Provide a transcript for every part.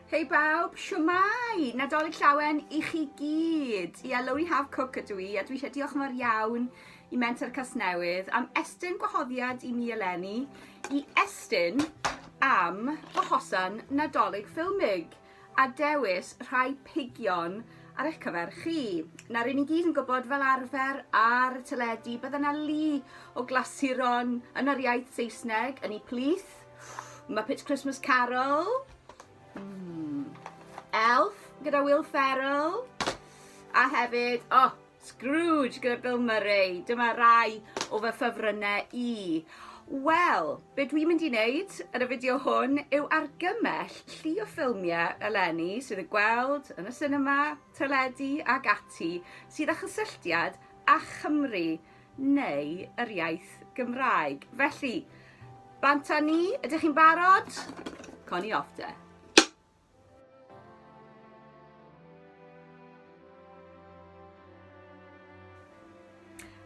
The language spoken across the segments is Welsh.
Hei bawb, siwmai! Nadolig llawen i chi gyd. Ia, Lowy Haf Cook ydw i, a dwi eisiau diolch yn fawr iawn i Menter Casnewydd am estyn gwahoddiad i mi eleni i estyn am fy hosan Nadolig ffilmig. a dewis rhai pigion ar eich cyfer chi. Nawr, ry'n ni gyd yn gwybod fel arfer ar y teledu, bydde yna lu o glasuron yn yr iaith Saesneg, yn ei plith, Muppets Christmas Carol, mm, Elf gyda Will Ferrell, a hefyd, oh, Scrooge gyda Bill Murray, dyma rai o fy ffefrynnau i. Wel, be dwi'n mynd i wneud yn y fideo hwn yw argymell llu o ffilmiau eleni sydd y gweld yn y sinema, teledu ac ati sydd â chysylltiad â Chymru neu yr iaith Gymraeg. Felly, bant â ni, ydych chi'n barod? Coni off de.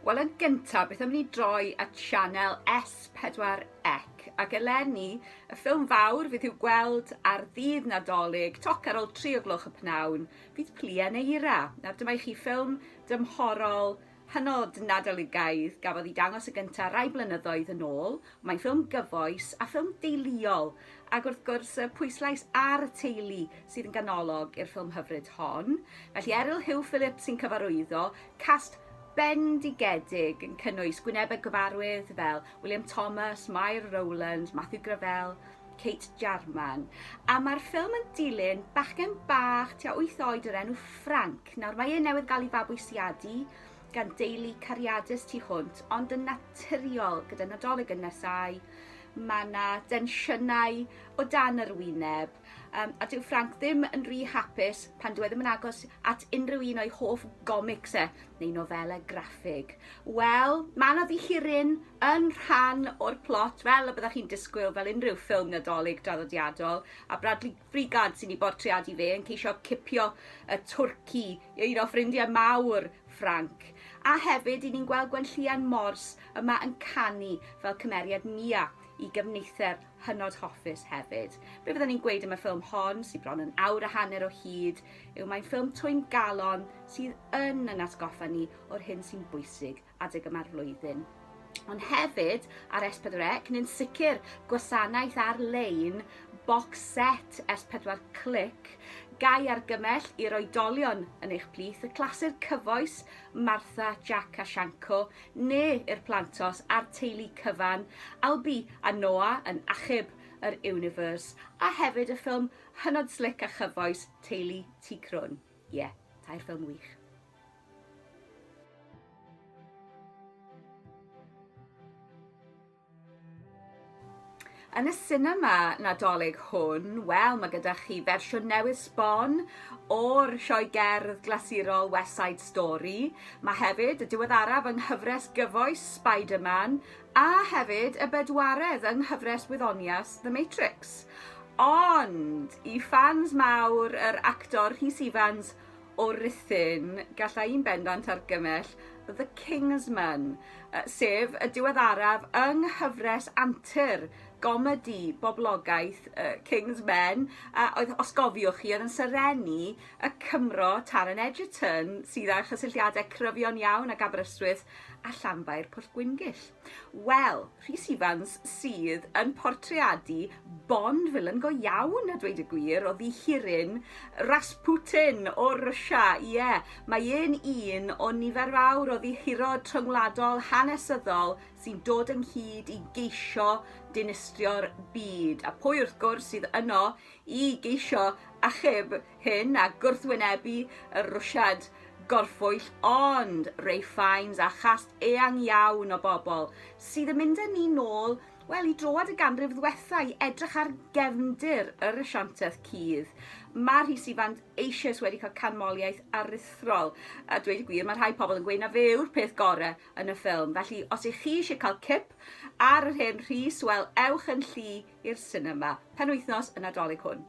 Wel yn gyntaf, beth am ni droi at sianel S4C ac eleni y ffilm fawr fydd i'w gweld ar ddydd Nadolig, toc ar ôl tri o gloch y pnawn, fydd Plien Eira. Nawr dyma i chi ffilm dymhorol Hynod Nadoligaidd, gafodd ei dangos y gyntaf rai blynyddoedd yn ôl, mae'n ffilm gyfoes a ffilm deuluol, ac wrth gwrs y pwyslais ar y teulu sydd yn ganolog i'r ffilm hyfryd hon. Felly Eryl Huw Phillips sy'n cyfarwyddo, cast bendigedig yn cynnwys gwynebau gyfarwydd fel William Thomas, Mair Rowlands, Matthew Gravell, Kate Jarman, a mae'r ffilm yn dilyn bachgen bach tua wyth oed o'r enw Frank, Cymreig. Nawr mae e newydd gael ei fabwysiadu gan deulu cariadus tu hwnt, ond yn naturiol gyda Nadolig yn nesau, mae yna densiynau o dan yr wyneb, um, a dyw Frank ddim yn rhy hapus pan dwi e ddim yn agos at unrhyw un o'i hoff gomics e, neu nofelau graffig. Wel, mae yna ddihiryn yn rhan o'r plot, fel y byddwch chi'n disgwyl fel unrhyw ffilm nadolig draddodiadol, a Bradley Frigad sy'n ei bortreadu fe yn ceisio cipio y twrci i un o ffrindiau mawr Ffranc. A hefyd, 'y ni'n gweld Gwenllian Morse yma yn canu fel cymeriad Mia i gyfnither hynod hoffus hefyd. Be fydden ni'n gweud am y ffilm hon, sydd bron yn awr a hanner o hyd, yw mae'n ffilm twyn galon sydd yn yn atgoffa ni o'r hyn sy'n bwysig adeg yma'r flwyddyn. Ond hefyd, ar S4C, cynnu'n sicr gwasanaeth ar-lein Box Set S4 Clic, ga'i argymell i'r oedolion yn eich plith, y clasur cyfoes Martha, Jack a Shanco, neu i'r plantos a'r teulu cyfan, Albi a Noa yn achub yr Universe, a hefyd y ffilm hynod slic a chyfoes Teulu Tŷ Crwn. Ie, tair ffilm wych. Yn y sinema Nadolig hwn, wel, mae gyda chi fersiwn newydd sbon o'r sioe gerdd glasurol West Side Story. Mae hefyd y diweddaraf yng nghyfres gyfoes Spider-Man a hefyd y bedwaredd yng nghyfres wyddonias The Matrix. Ond, i ffans mawr yr actor Rhys Ifans, O Ruthun, galla i'n bendant argymell The King's Man, sef y diweddaraf yng nghyfres antur gomedi boblogaidd King's Men, a oedd, os gofiwch chi, oedd yn serennu y Cymro Taran Egerton, sydd â chysylltiadau cryfion iawn ag Aberystwyth a Llanfair Pwllgwyngyll. Wel, Rhys Ifans sydd yn portreadu Bond, filen go iawn a dweud y gwir, oddi hirin Rasputin o Rwsia, ie, mae e'n un o nifer fawr o ddihirod rhyngwladol hanesyddol sy'n dod ynghyd i geisio dinistrio'r byd, a pwy wrth gwrs sydd yno i geisio achub hyn a gwrthwynebu y Rwsiad gorffwyll ond Ray Fiennes a chast eang iawn o bobl sydd yn mynd â ni nôl, wel, i droad y ganrif ddwetha i edrych ar gefndir yr asianteth cudd. Mae Rhys Ifans eisioes wedi cael canmoliaeth aruthrol a dweud y gwir mae rhai pobl yn gweud na fe yw'r peth gore yn y ffilm. Felly os ych chi eisiau cael cip ar yr hen Rhys, wel, ewch yn llu i'r sinema penwythnos y Nadolig hwn.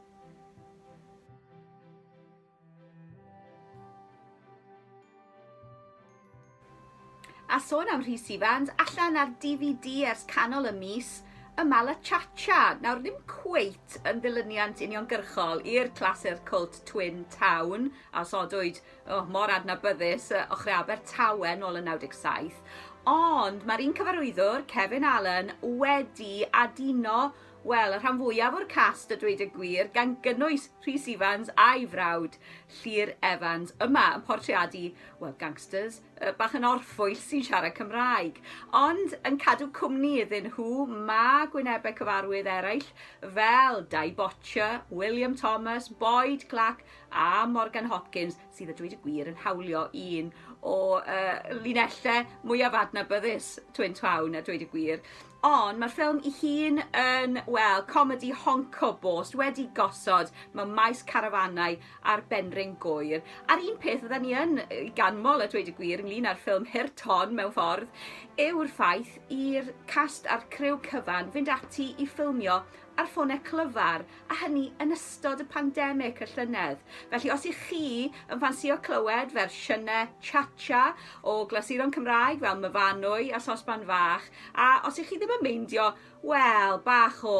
A sôn am Rhys Ifans, allan ar DVD ers canol y mis, y Mala Chacha. Nawr, ddim cweit yn ddilyniant uniongyrchol i'r clasur cult Twin Town, a sodwyd oh, mor adnabyddus uh, ochrau Abertawe nôl yn 97, ond mae'r un cyfarwyddwr, Kevin Allen, wedi aduno Wel, y rhan fwyaf o'r cast a dweud y gwir, gan gynnwys Rhys Ifans a'i frawd, Llŷr Evans, yma yn portreadu, wel, gangsters bach yn orffwyll sy'n siarad Cymraeg. Ond yn cadw cwmni iddyn nhw, mae gwynebau cyfarwydd eraill fel Dai Botcher, William Thomas, Boyd Clark a Morgan Hopkins, sydd a dweud y gwir yn hawlio un o uh, linellau mwyaf adnabyddus Twin Town a dweud y gwir. Ond mae'r ffilm i hun yn, wel, comedi honco bost, wedi gosod, mae maes carafanau ar benrhyn gŵyr. A'r un peth fydden ni yn ei ganmol a dweud y gwir ynglyn â'r ffilm hurt hon mewn ffordd yw'r ffaith i'r cast a'r criw cyfan fynd ati i ffilmio ar ffonau clyfar, a hynny yn ystod y pandemig y llynedd. Felly os ych chi yn ffansïo clywed fersiynau cha-cha o glasuron Cymraeg fel Myfanwy a Sosban Fach, a os ych chi ddim yn meindio, wel, bach o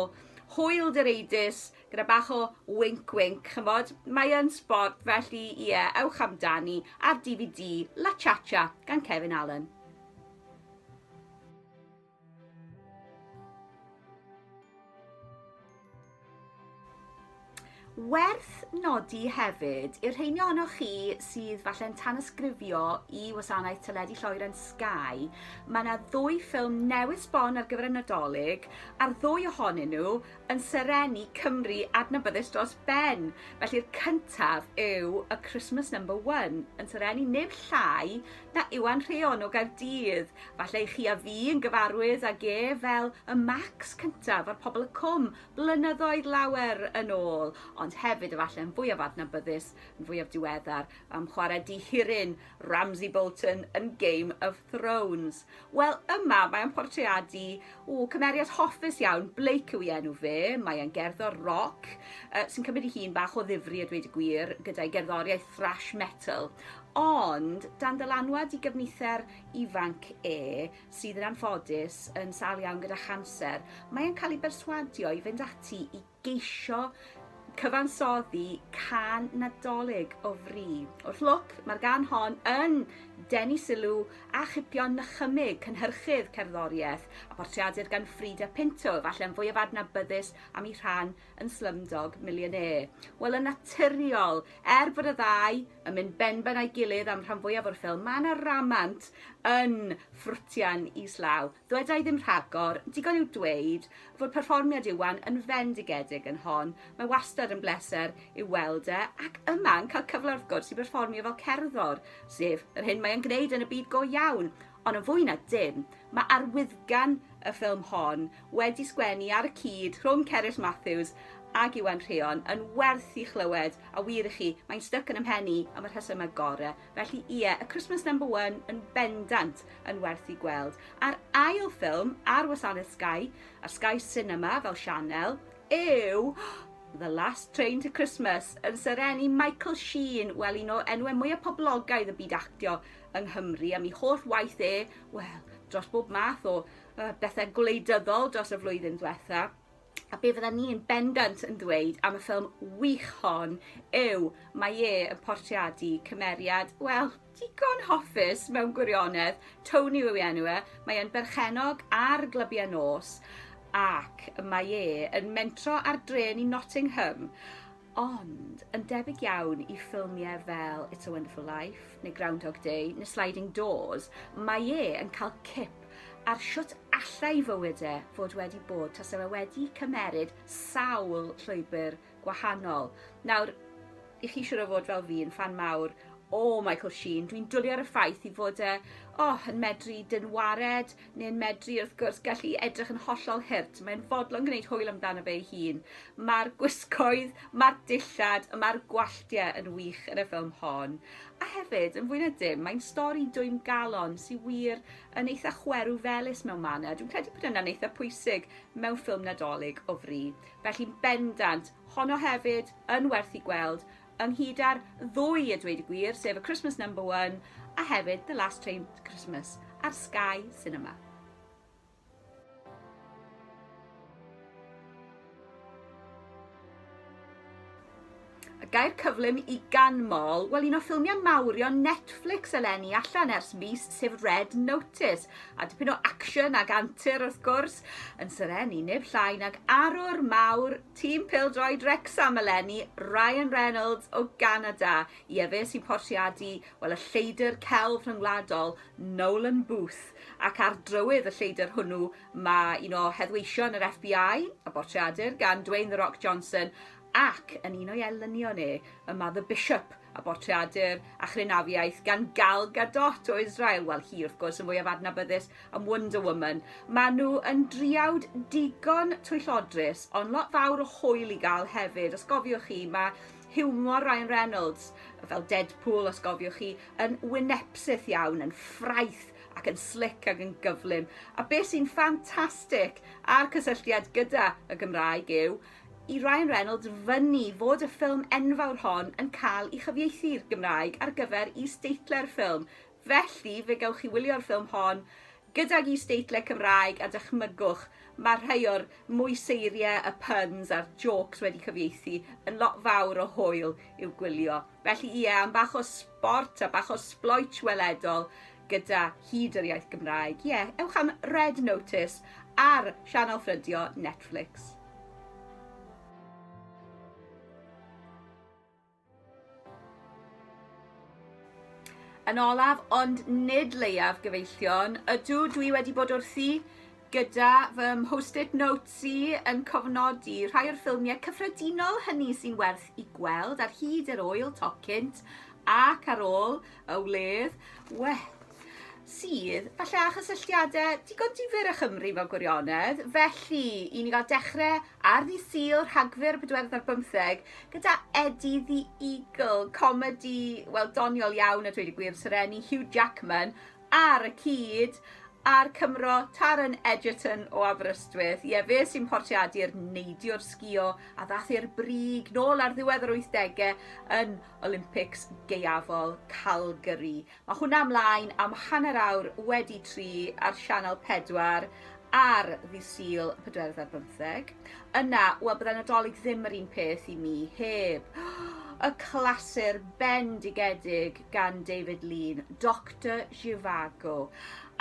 hwyl direidus gyda bach o winc winc, chymod, mae yn sbort, felly ie, ewch amdani ar DVD La Cha-Cha gan Kevin Allen. Werth nodi hefyd, i'r rheini ohonoch chi sydd falle'n tanysgrifio i wasanaeth teledu lloeren Sky, mae yna ddwy ffilm newydd sbon ar gyfer y Nadolig, a'r ddwy ohonyn nhw yn serennu Cymru adnabyddus dros ben. Felly'r cyntaf yw A Christmas Number One, yn serennu neb llai Da Iwan Rheon o Gaerdydd. Falle i chi a fi yn gyfarwydd ag e fel y Max cyntaf ar Pobl y Cwm blynyddoedd lawer yn ôl, ond hefyd efallai yn fwyaf adnabyddus, yn fwyaf diweddar, am chwarae dihiryn Ramsay Bolton yn Game of Thrones. Wel, yma mae o'n portreadu, o, cymeriad hoffus iawn, Blake yw ei enw fe, mae e'n gerddor roc, uh, sy'n cymryd ei hun bach o ddifri a dweud y gwir, gyda'i gerddoriaeth thrash metal, Ond, dan ddylanwad i gyfnither ifanc e, sydd yn anffodus yn sâl iawn gyda chanser, mae e'n cael ei berswadio i fynd ati i geisio cyfansoddi cân Nadolig o fri. Wrth lwc, mae'r gân hon yn denu sylw a chipio nychymyg cynhyrchydd cerddoriaeth a phortreadur gan Frida Pinto, efallai yn fwyaf adnabyddus am ei rhan yn Slumdog Millionaire. Wel, yn naturiol, er bod y ddau yn mynd benben a'i gilydd am rhan fwyaf o'r ffilm, mae yna ramant yn ffrwtian islaw. Ddweda i ddim rhagor, digon yw dweud fod perfformiad Iwan yn fendigedig yn hon. Mae wastad yn bleser i'w weld e, ac yma'n cael cyfle wrth gwrs i berfformio fel cerddor, sef yr hyn mae'n gwneud yn y byd go iawn. Ond yn fwy na dim, mae arwyddgan y ffilm hon, wedi sgwennu ar y cyd rhwng Cerys Matthews ag Iwan Rheon, yn werth i chlywed, a wir i chi, mae'n styc yn 'y mhen i am y rhesymau gore. Felly, ie, A Christmas Number One yn bendant yn werth i gweld. A'r ail ffilm ar wasanaeth Sky, ar Sky Cinema fel sianel, yw The Last Train to Christmas, yn serennu Michael Sheen, wel, un o enwau mwyaf poblogaidd y byd actio, yng Nghymru am ei holl waith e, wel, dros bob math o uh, bethau gwleidyddol dros y flwyddyn diwetha, a be fydda ni yn bendant yn dweud am y ffilm wych hon yw mae e yn portreadu cymeriad, wel, digon hoffus mewn gwirionedd, Tony yw ei enw e, mae e'n berchenog ar glybiau nos ac mae e yn mentro ar dren i Nottingham Ond, yn debyg iawn i ffilmiau fel It's a Wonderful Life, neu Groundhog Day, neu Sliding Doors, mae e yn cael cip ar shwt allai fywyd e fod wedi bod tase fe wedi cymeryd sawl llwybr gwahanol. Nawr, i chi siŵr o fod fel fi yn ffan mawr o Michael Sheen, dwi'n dwli ar y ffaith i fod e, oh, yn medru dynwared Ni'n medru, wrth gwrs, gallu edrych yn hollol hurt. Mae'n fodlon gwneud hwyl amdano fe ei hun. Mae'r gwisgoedd, mae'r dillad, a mae'r gwalltiau yn wych yn y ffilm hon. A hefyd, yn fwy na dim, mae'n stori dwym galon sy'n wir yn eitha chwerw felys mewn man, a dwi'n credu bod yna'n eitha pwysig mewn ffilm Nadolig o fri. Felly'n bendant, honno hefyd yn werth i gweld, ynghyd â'r ddwy a dweud y gwir, sef y Christmas Number One a hefyd The Last Train to Christmas ar Sky Cinema. Y gair cyflym i ganmol, wel un o ffilmiau mawrion Netflix eleni allan ers mis, sef Red Notice, a dipyn o action ag antur wrth gwrs, yn serenu neb llai nag arwr mawr Tîm pêl-droed Wrecsam eleni Ryan Reynolds o Ganada i efe sy'n portreadu, wel, y lleidr celf rhyngwladol Nolan Booth. Ac ar drywydd y lleidr hwnnw mae un o heddweision yr FBI, a bortreadur gan Dwayne The Rock Johnson, ac yn un o'i elynion e, y mae The Bishop a bortreadu'r achrenafiaeth gan Gal Gadot o Israel, wel hi wrth gwrs yn fwyaf adnabyddus am Wonder Woman. Mae nhw yn driawd digon twyllodrus, ond lot fawr o hwyl i gael hefyd. Os gofiwch chi, mae hiwmor Ryan Reynolds, fel Deadpool os gofiwch chi, yn wynepsyth iawn, yn ffraeth ac yn slic ac yn gyflym. A beth sy'n ffantastig a'r cysylltiad gyda y Gymraeg yw, i Ryan Reynolds fynnu fod y ffilm enfawr hon yn cael i chyfieithu i'r Gymraeg ar gyfer is-deitle'r ffilm, felly fe gewch chi wylio'r ffilm hon gydag is-deitle Cymraeg a dychmygwch, mae rhai o'r moeseiriau, y puns a'r jôcs wedi cyfieithu yn lot fawr o hwyl i'w gwylio. Felly ie, am bach o sbort a bach o sbloetsh weledol gyda hyd yr iaith Gymraeg, ie, ewch am Red Notice ar sianel ffrydio Netflix. Yn olaf, ond nid leiaf gyfeillion, ydw dwi wedi bod wrthi gyda fy mhost-it notes i yn cofnodi rhai o'r ffilmiau cyffredinol hynny sy'n werth i gweld ar hyd yr oel tocyn ac ar ôl y wledd, well, sydd falle â chysylltiadau digon difyr â Chymru fel gwirionedd, felly i ni gael dechrau ar ddi Sul, Rhagfyr 4 ar 15, gyda Eddie the Eagle, comedi, wel, doniol iawn a dweud y gwir, Serenni, Hugh Jackman, ar y cyd, a'r Cymro Taron Egerton o Aberystwyth. Ie, fe sy'n portreadu'r neidiwr sgio a ddath i'r brig nôl ar ddiwedd yr 80au yn Olympics Gaeafol Calgary. Mae hwnna ymlaen am hanner awr wedi tri ar Sianel 4 ar ddi Sul 4 ar bymtheg. Yna, wel byddai Nadolig ddim yr un peth i mi heb y clasur bendigedig gan David Lean, Doctor Zhivago.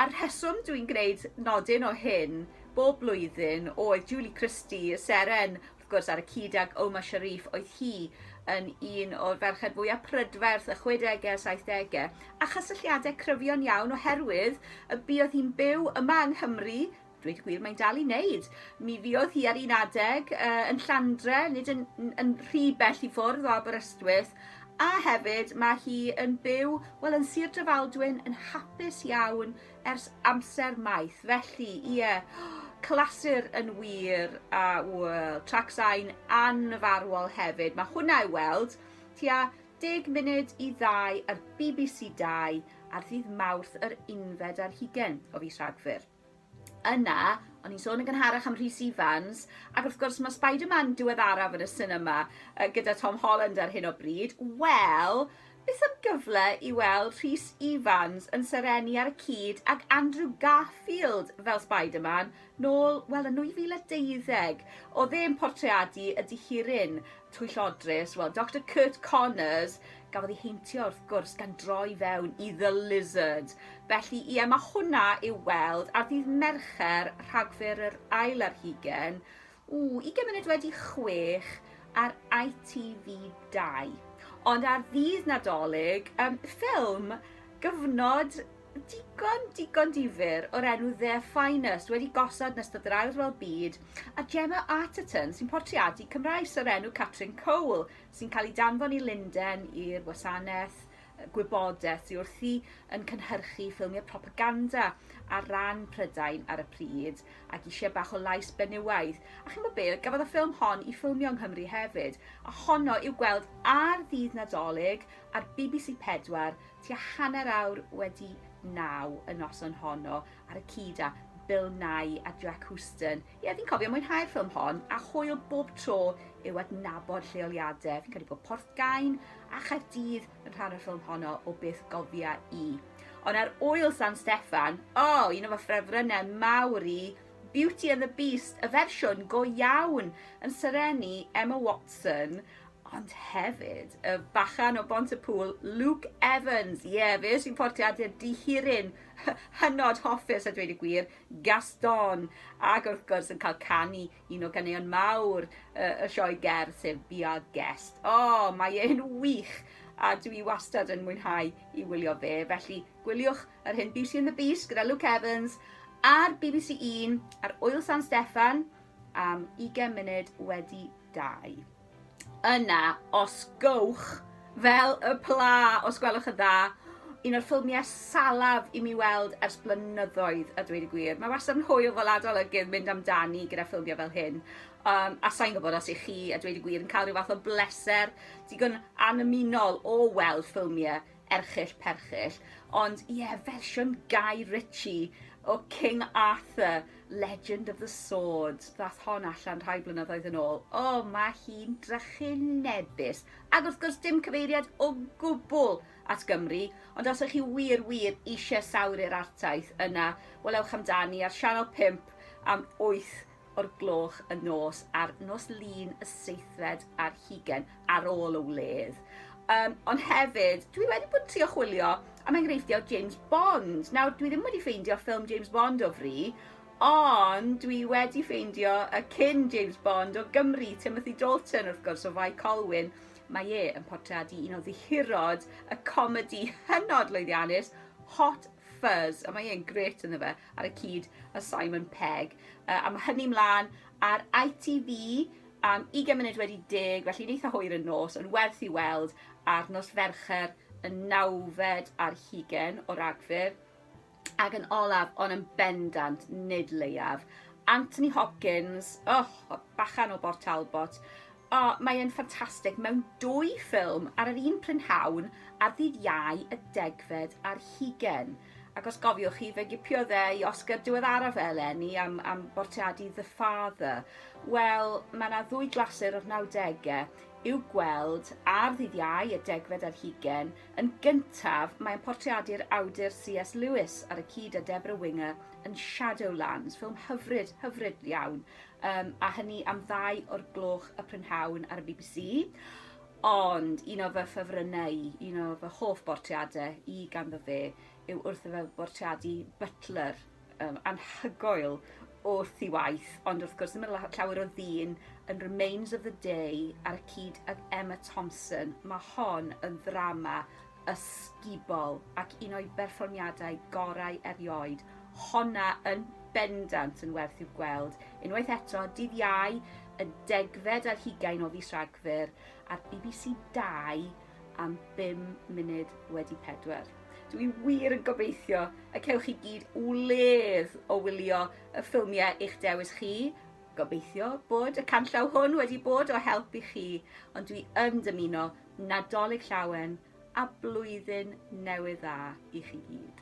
A'r rheswm dwi'n gwneud nodyn o hyn bob blwyddyn oedd Julie Christie, y seren Wrth gwrs, ar y cyd ag Omar Sharif, oedd hi yn un o'r ferched fwyaf prydferth y 60au a 70au, a chysylltiadau cryfion iawn oherwydd y buodd hi'n byw yma yng Nghymru, dweud y gwir mae'n dal i wneud. Mi fuodd hi ar un adeg uh, yn Llandre, nid yn, yn rhy bell i ffwrdd o Aberystwyth, a hefyd mae hi yn byw, wel yn Sir Drefaldwyn, yn hapus iawn ers amser maith, felly ie, clasur yn wir a ŵyl, trac sain anfarwol hefyd, mae hwnna i'w weld tua deg munud i ddau ar bbc Dau ar ddydd Mawrth yr unfed ar hugen o fis Rhagfyr. Yna, o'n i'n sôn yn gynharach am Rhys Ifans, ac wrth gwrs mae Spider-Man diweddaraf yn y sinema gyda Tom Holland ar hyn o bryd, wel, Beth am gyfle i weld Rhys Ifans yn serennu ar y cyd ag Andrew Garfield fel Spider-Man nôl, wel, yn 2012? O'dd e'n portreadu y dihiryn twyllodrus, wel, Doctor Curt Connors gafodd ei heintio, wrth gwrs, gan droi fewn i The Lizard. Felly, ie, mae hwnna i'w weld ar ddydd Mercher, Rhagfyr yr ail ar hugen, Ww, ugain munud wedi chwech ar ITV dau. Ond ar ddydd Nadolig, um, ffilm gyfnod digon, digon difyr o'r enw The Finest wedi gosod yn ystod yr ail rhyfel byd a Gemma Arterton sy'n portreadu Cymraes o'r enw Catrin Cole sy'n cael ei danfon i Lunden i'r wasanaeth gwybodaeth sy wrthi yn cynhyrchu ffilmiau propaganda ar ran Prydain ar y pryd ac eisiau bach o lais benywaidd. A chi'n gwybod be, gafodd y ffilm hon i ffilmio yng Nghymru hefyd, a honno i'w gweld ar ddydd Nadolig ar bbc Pedwar tua hanner awr wedi naw y noson honno ar y cyd â Bill Nighy a Jack Huston. Ie, fi'n cofio mwynhau'r ffilm hon, a hwyl bob tro yw adnabod lleoliadau. Fi'n credu bod Porthgain a Chaerdydd yn rhan o'r ffilm honno o beth gofia i. Ond ar ŵyl San Steffan, o, oh, un o fy ffrefrynnau mawr i, Beauty and the Beast, y fersiwn go iawn yn serennu Emma Watson, ond hefyd y bachan o Bont y Pŵl, Luke Evans. Ie, yeah, fe sy'n portiadur dihiryn hynod hoffus a dweud y gwir, Gaston, ac wrth gwrs yn cael canu un o ganeuon mawr y sioe gerdd, sef Be Our Guest. O, mae e'n wych, a dwi i wastad yn mwynhau i wylio fe, felly gwyliwch yr hyn Beauty and the Beast gyda Luke Evans ar bbc Un ar Ŵyl San Steffan am 20 munud wedi dau. yna os gowch fel y pla os gwelwch yn dda un o'r ffilmiau salaf i mi weld ers blynyddoedd a dweud y gwir. Mae wastad yn hwyl fel adolygydd mynd amdani gyda ffilmiau fel hyn. Um, a sa'n gwybod os i chi a dweud y gwir yn cael rhyw fath o bleser digon annymunol o weld ffilmiau Erchyll perchyll. Ond ie, fersiwn Guy Ritchie o King Arthur, Legend of the Sword. Ddath hon allan rhai blynyddoedd yn ôl. O, mae hi'n drychinebus. Ac wrth gwrs, dim cyfeiriad o gwbl at Gymru, ond os ych chi wir, wir eisiau sawru'r artaith, yna, welewch amdani ar Sianel 5 am 8 o'r gloch y nos ar nos lun y seithfed ar hugen ar ôl y wledd. Um, ond hefyd, dwi wedi bod yn trio chwilio am enghreifftiau James Bond. Nawr, dwi ddim wedi ffeindio ffilm James Bond o fri, ond dwi wedi ffeindio y cyn James Bond o Gymru, Timothy Dalton, wrth gwrs, o Fai Colwyn. Mae e yn portreadu un o ddihirod y comedi hynod lwyddiannus, Hot Fuzz, a mae e'n gret yn fe. ar y cyd â Simon Pegg. Uh, a mae hynny mlaen ar ITV am 20 munud wedi deg, felly'n eitha hwyr yn nos, yn werth i weld ar nos fercher y nawfed ar hugen o ragfyr. Ac yn olaf, ond yn bendant, nid leiaf, Anthony Hopkins, oh, bachan o Bort Talbot, o, oh, mae e'n ffantastig mewn dwy ffilm ar yr un prynhawn ar ddydd Iau y degfed ar hugen. Ac os cofiwch chi, fe gipiodd e i Oscar diweddaraf eleni am, am bortreadu The Father. Wel, mae yna ddwy glasur o'r 90au i'w gweld ar ddydd Iau, y degfed ar hugen. Yn gyntaf, mae'n portreadu'r awdur C.S Lewis ar y cyd â Deborah Winger yn Shadowlands, ffilm hyfryd, hyfryd iawn, um, a hynny am ddau o'r gloch y prynhawn ar y BBC. Ond un o fy ffefrynnau i, un o fy hoff bortreadau i ganddo fe yw wrtho fe bortreadu butler um, anhygoel wrth i waith, ond wrth gwrs ddim yn llawer o ddyn yn Remains of the Day ar y cyd ag Emma Thompson. Mae hon yn ddrama ysgubol ac un o'i berfformiadau gorau erioed. Honna yn bendant yn werth i'w gweld. Unwaith eto, dydd Iau, y degfed ar hugain o fis Rhagfyr, ar bbc 2 am bum munud wedi pedwar. Dw i wir yn gobeithio y cewch chi gyd wledd o wylio y ffilmiau eich dewis chi. Gobeithio bod y canllaw hwn wedi bod o help i chi, ond dwi yn dymuno Nadolig Llawen a Blwyddyn Newydd Dda i chi gyd.